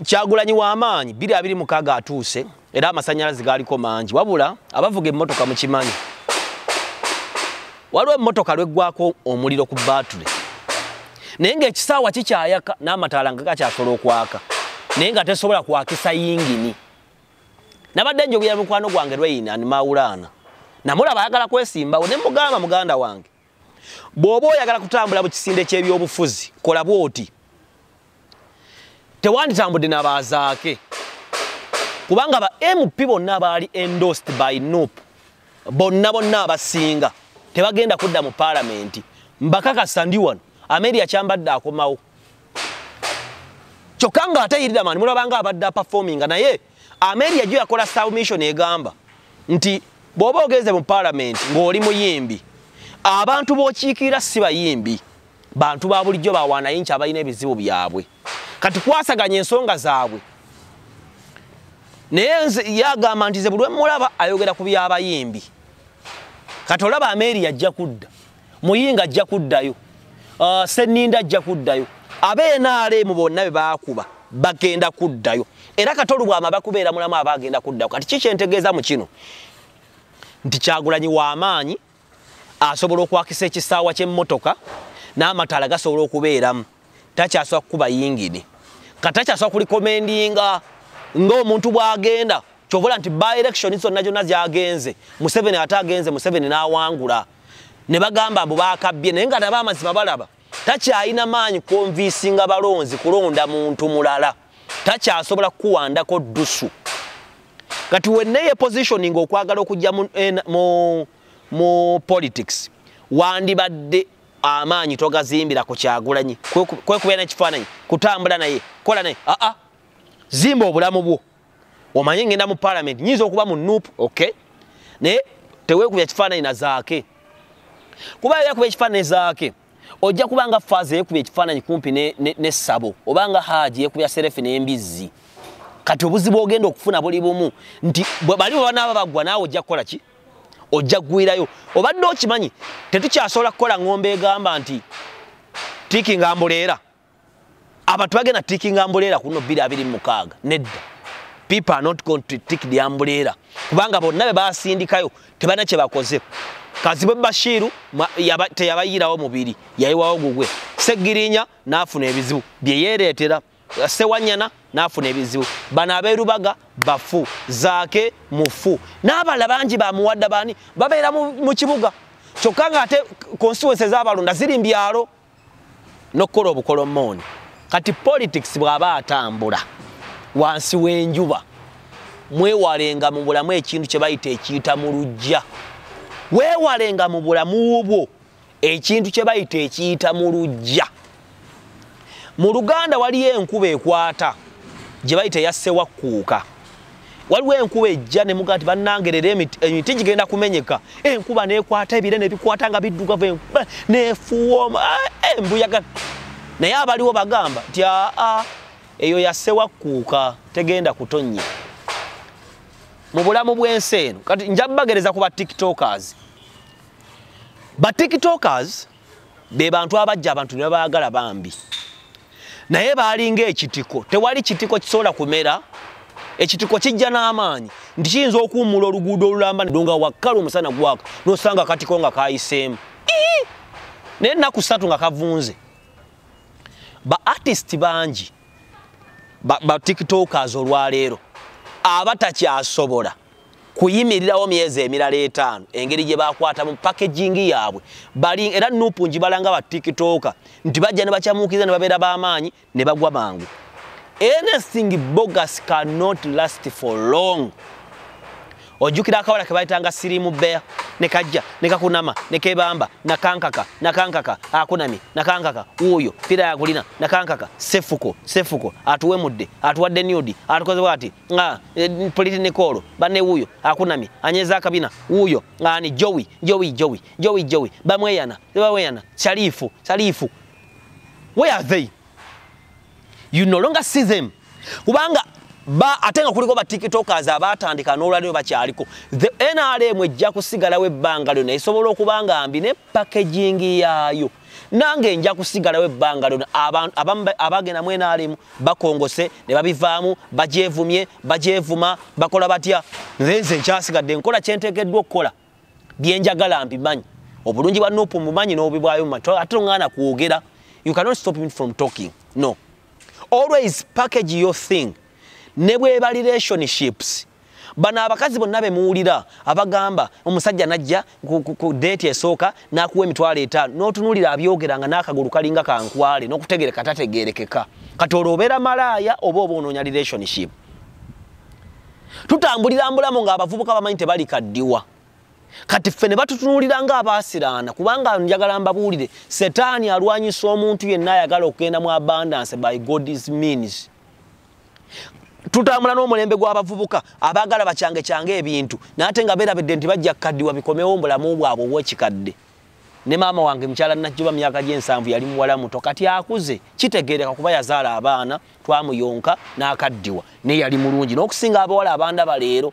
kyagulanyi wamaanyi biri abiri mukaaga atuuse era amasanyalaze gaaliko mangi wabula abavuga emmotoka mukimanyi waliwo emmotoka lweggwako omuliro ku batule naye ngaekisaawa kikyayaka n'amataala nga gakyasola okwaka naye nga tesobola kwakisa yingini nabadde njogera mukwano gwange lweyina nimawulaana namulaba ayagala kwesimbawo ne mugamba muganda wange bw'oba oyagala kutambula mu kisinde ky'ebyobufuzi kola bw'oti tewanditambudde nabaazaake kubanga ba mp bonna baali endost by nup bonna bonna abasinga tebagenda kudda mu paalamenti mbakakasa ndi wano ameria kyambadde akomawo kyokka nga ate yiridamani mulabanga abadde apafominga naye ameria jo yakola submission egamba nti bwoba ogenze mu palamenti ng'oli muyimbi abantu bokiikirira si bayimbi bantu ba bulijjo bawanayinki abalina ebizibu byabwe kati kwasaganya ensonga zaabwe naye yagamba nti ze bulwemulaba ayogera ku byabayimbi kati olaba ameria ajja kudda muyinga ajja kuddayo uh, seninda ajja kuddayo abenrm bonna be bakuba bagenda kuddayo era katolu bwama bakubeera mulamu aba agenda kuddayo kati kikyentegeeza mu kino nti kyagulanyi w'amaanyi asobola okwakisa ekisaawa ky'emmotoka n'amataala gasobola okubeeramu takyasobola kukuba yingini kati takyasobola kulikomendinga ng'omuntu bw'agenda kyobola nti by election zonna gyonna zyagenze museveni ate agenze museveni n'awangula ne bagamba mbu bakabbye naye nga nabo amazima balaba takyalina maanyi konviisinga balonzi kulonda muntu mulala takyasobola kukuwandako ddusu kati wenna yepositioning okwagala okujja mu, eh, mu, mu politics wandibadde amaanyi togazimbira ku kyagulanyi kwekubeera nekifaananyi kutambula naye kola naye aa zimba obulamu bwo omanyi ngenda mu parliament nyinza okuba mu nup okay naye tewekubya kifaananyi na zaake kuba yakuba ekifaananyi zaake ojja kuba nga faaza yekuba ekifaananyi kumpi nessabo ne, ne oba nga haaji yekubya serefi n'embizzi kati obuzibu ogenda okufuna buli bumu nti bali bwebanaaba baggwa naawe ojja kukola ki ojja kugwirayo obadde okimanyi tetukyasobola kukola ng'omba egamba nti tiki nga mbuleera abantu bagenda tikinga ambuleera kuno bbiri abiri mukaaga nedda people are not going to tik the ambuleera kubanga bonna be basindikayo tebana kye bakoze kazibwe bashiiru teyabayiirawo mubiri yayiwawo gugwe segirinya n'afuna ebizibu bye yeereetera sewanyana n'afuna ebizibu bano abeerubaga bafu zaake mufu n'abala bangi bamuwadda baani babeera mu kibuga kyokka ng'ate konstituensi ez'abalonda ziri mbyalo n'okukola obukolomooni kati politics bw'aba atambula wansi w'enjuba mwewalenga mu bulamu ekintu kye bayita ekiyita mu lujja weewalenga mu bulamu bwo ekintu kye bayita ekiyita mu lujja mu luganda waliyo enkuba ekwata gye bayita eyassewakkuuka waliwo enkuba ejja ne mugaa nti bannange leero emiti gigenda kumenyeka enkuba nekwata ebire nebikwata nga biddugavu enkuba nefuwoma eh, embuyaga eh, naye abaliwo bagamba nti aa eyo yasewakkuuka tegenda kutonnya mu bulamu bw'ensi eno kati nja bagereza ku ba tiktokers ba tiktokers be bantu abajja abantu ne baagala bambi naye baalinga ekitiko tewali kitiko kisobola kumera ekitiko kijja n'amaanyi nti kiyinza okuwummula oluguudo olulamba nga wakkala omusana gwaka n'osanga akatiko nga kayiseemu naye ennaku ssatu nga kavunze ba artist bangi ba, ba tiktokers olwaleero abatakyasobola kuyimirirawo myezi emirala etaano engeri gye bakwatamu pakegingi yaabwe bali era nupu ngibalanga ba tiktoka nti bajja ne bakyamuukiriza ne babeera b'amaanyi ne bagwa mangu anything bogus cannot last for long ojjukira akawala ke bayitanga sirimu bea ne kajja ne kakunama ne kebamba nakankaka nakankaka akunami nakankaka wuuyo pira yakulina nakankaka sefuko sefuko atuwemudde atuwadde nudi atukoze bwati nga eh, politi nikolo bane wuyo akunamye anyeza akabina wuyo ngani jowi jowi jowi jowi jowi bamweyana bamweyana sharifu sharifu where are they you no longer see them kubanga ba atenga kuliko ba tiktokers abatandika n'olwaliro bakyaliko the nrm ejja kusigalawo ebbanga lyona esobola okubanga mbi ne packaging yaayo nange nja kusigalawo ebbanga lyona abagenda mu nrm bakongose ne babivaamu bagyevumye bagyevuma bakola batya nze nze nkyasigadde nkola kyenteekeddwa okukola byenjagala mbimanyi obulungi bwa nupu mumanyi n'obibwayo mumanyi ate ongana kwogera you cannot stop me from talking no always package your thing ne bweba relationships bano abakazi bonna bemuwulira abagamba omusajja najja ku deeti esooka nakuwa emitwalo etaano notunulira abyogera nga nakagulu kalinga kankwale nokutegereka tategerekeka kati olwo obeera malaaya oba oba onoonya relationship tutambulira mbulamu nga abavubuka bamanyi tebalikaddiwa kati ffe ne batutunulira nga abaasiraana kubanga njagala mbabuulire setaani alwanyisa omuntu yenna ayagala okugenda mu abundance by god's means tutambula n'omulembe gw'abavubuka abaagala bakyange kyange ebintu naate nga beerabidde nti bajja kukaddiwa bikomewo mbulamu bwabwe obwekikadde ne maama wange mukyala najjuba myaka gy'ensanvu yali muwala muto kati akuze kitegeereka kuba yazaala abaana twamuyonka n'akaddiwa naye yali mulungi n'okusinga abawala abandaba leero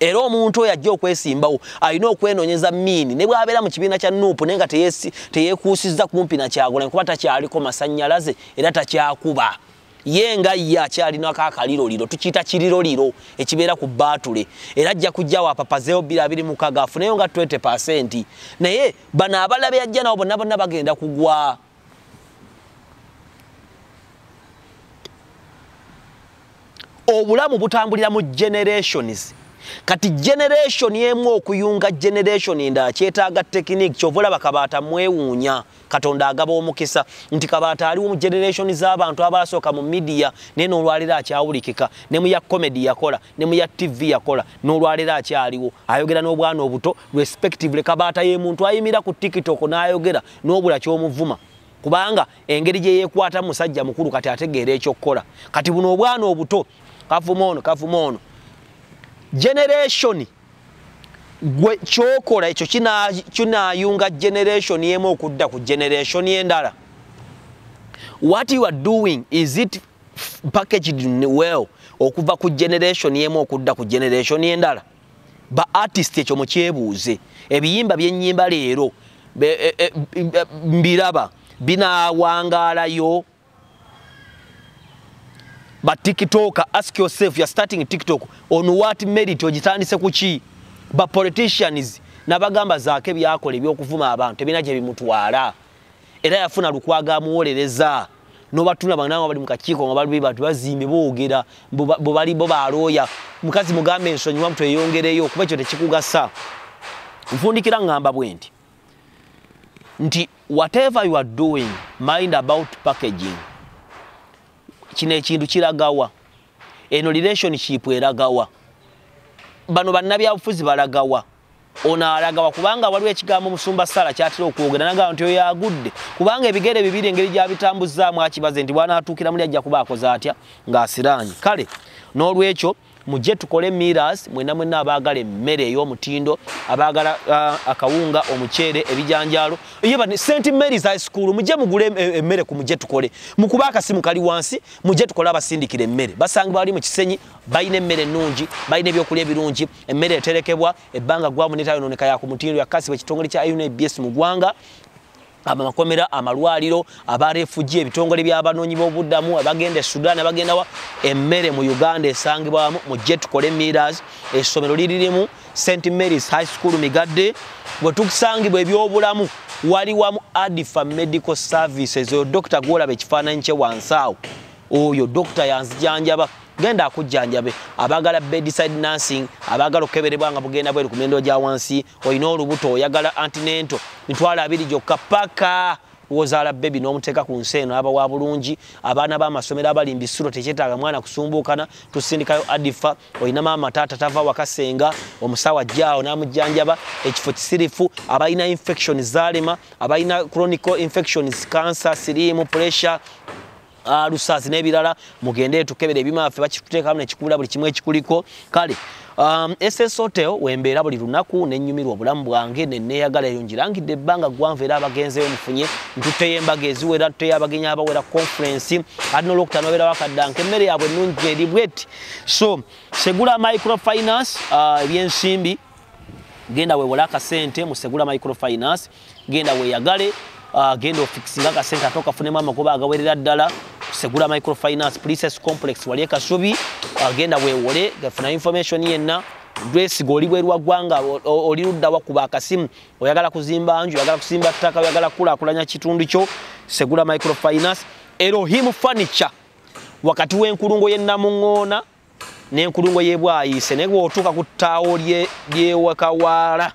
era omuntu oyo ajja okwesimbawo alina okwenonyeza miini ne bwabeera mu kibiina kya nuupu naye nga teyekuusizza kumpi nakyagulanyi kuba takyaliko masanyalaze era takyakuba ye nga ye akyalinako akaliroliro tukiyita kiriroliro ekibeera ku baatule era ajja kujjawo apapazeewo bbiri abiri mukaga afuneyo nga 20 naye bano abalabe yajja nabo bonna bonna bagenda kugwa obulamu butambulira mu generations kati generation emu okuyunga generation endala kyetaaga tekiniki kyova olaba kabaata mwewuunya katonda agaba omukisa nti kabaata aliwo mu generation z'abantu abaasooka mu midiya naye n'olwaliro akyawulikika ne mu ya comedy yakola ne mu ya tv yakola n'olwaliro akyaliwo ayogera n'obwana obuto respectively kabaata ye muntu ayimira ku tiktok n'ayogera nobula kyomuvuma kubanga engeri gyeyekwata musajja mukulu kati ategeera ekyokukola kati buno obwana obuto kavuma ono kavuma ono generation gwe kyokola ekyo kinayunga generation emu okudda ku generation endala what you are doing is it packaged well okuva ku generation emu okudda ku generation endala ba artist ekyo mukyebuuze ebiyimba byenyimba leero e, e, mbiraba binawangaalayo ba tiktoker ask yourself you're starting tiktok on what merit ogitandise kuki ba politicians nabagamba zaako ebyakola ebyokuvuma abantu ebina gye bimutwala era yafuna lukwaga amuwolereza nobatula bananga bali mukakiiko nga bali batu bazimbe boogera bo bali bo balooya mukazi mugambe ensonyi wamutu eyongereyo kuba ekyo tekikugasa nfundikira ngamba bwe nti nti whatever you are doing mind about packaging kino ekintu kiragawa eno relationship eragawa bano bannabyabufuzi balagawa ono alagawa kubanga waliwo ekigambo musumba sala kyatera okwogera nagamba nti oyo agudde kubanga ebigere bibiri engeri gyabitambuzaamu akibaze nti bwanatuukira muli ajja kuba akoze atya ng'asiraanye kale n'olwekyo mujje tukole miras mwena mwena abaagala emmere ey'omutindo abaagala uh, akawunga omuceere ebijanjaalo yeba st marys high school mujje mugule e, emmere ku mujje tukole mukuba akasimu kali wansi mujje tukole abasindikira emmere basangibwa bali mu kisenyi balina emmere ennungi balina ebyokulya ebirungi emmere eterekebwa ebbanga gwamu netayononeka yakumutindo yakasibwa ekitongole kya unabs mu gwanga amakomera amalwaliro abarefugi ebitongole byabanoonyi bobuddamu abagenda e sudan abagendawa emmere mu uganda esangibwamu mu jetukole miras essomero liririmu st marys high school migadde bwetukusangibwa ebyobulamu wali wamu adifa medical services oyo dokita gwolaba ekifaananyi kye wansi awo oyo dokita yanzijanjaba genda akujjanjabe abagala bedside nursing abagala okukeberebwa nga bugenda bweru ku mendo gya wansi olina olubuto oyagala antinento mitwalo abiri gyokka paka wozaala bebi n'omuteeka ku nsi eno aba wa bulungi abaana b'amasomero abali mbisiro tekyetaaga mwana kusumbuukana tusindikayo adifa olina maama taata tava wakasenga omusawo ajjaawo n'amujjanjaba ekifo kisirifu abalina infection zaalema abalina chronical infections cancer siriimu pressure alusaasi n'ebirala mugende etukebera ebyuma byaffe bakituteekamu nekikubula buli kimu ekikuliko kale um, ss hotel wembeera buli lunaku nenyumirwa obulamu bwange neneyagala eyo ngirangidde ebbanga gwanvu era abagenzeyo mufunye ntutteyo embaga eziwera ntutteyo abagenyi abawera conference ati nolwokutano babeera bakaddanka emmere yaabwe ennungi eri bweti so segula microfinance uh, ebyensimbi uh, genda wewole akasente musegula microfinance genda weyagale uh, genda ofikisinga akasente ate okafunemu amagoba agawerera ddala segula microfinance princess complex wali ekasubi uh, genda wewole gafuna information yenna gwesiga oli bwerwa ggwanga oli luddawa kuba akasimu oyagala kuzimba nju oyagala kusimba ttaka oyagala kukulakulanya kitundu kyo segula microfinance erohim furniture wakati w'enkulungo y'ennamuŋŋoona n'enkulungo y'ebwayiise naye bw'otuuka ku ttaawo lyewakawaala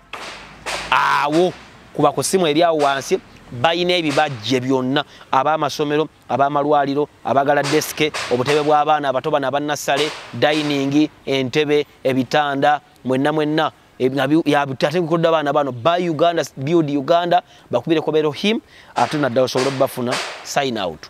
awo kuba ku ssimu eri awo wansi balina ebibajje byonna ab'amasomero ab'amalwaliro abagala desike obutebe bw'abaana abato bano abannassale dayiningi entebe ebitanda mwenna mwenna ate bikodde abaana bano ba uganda build uganda bakubireko berohim ate naddala osobole okubafuna sign out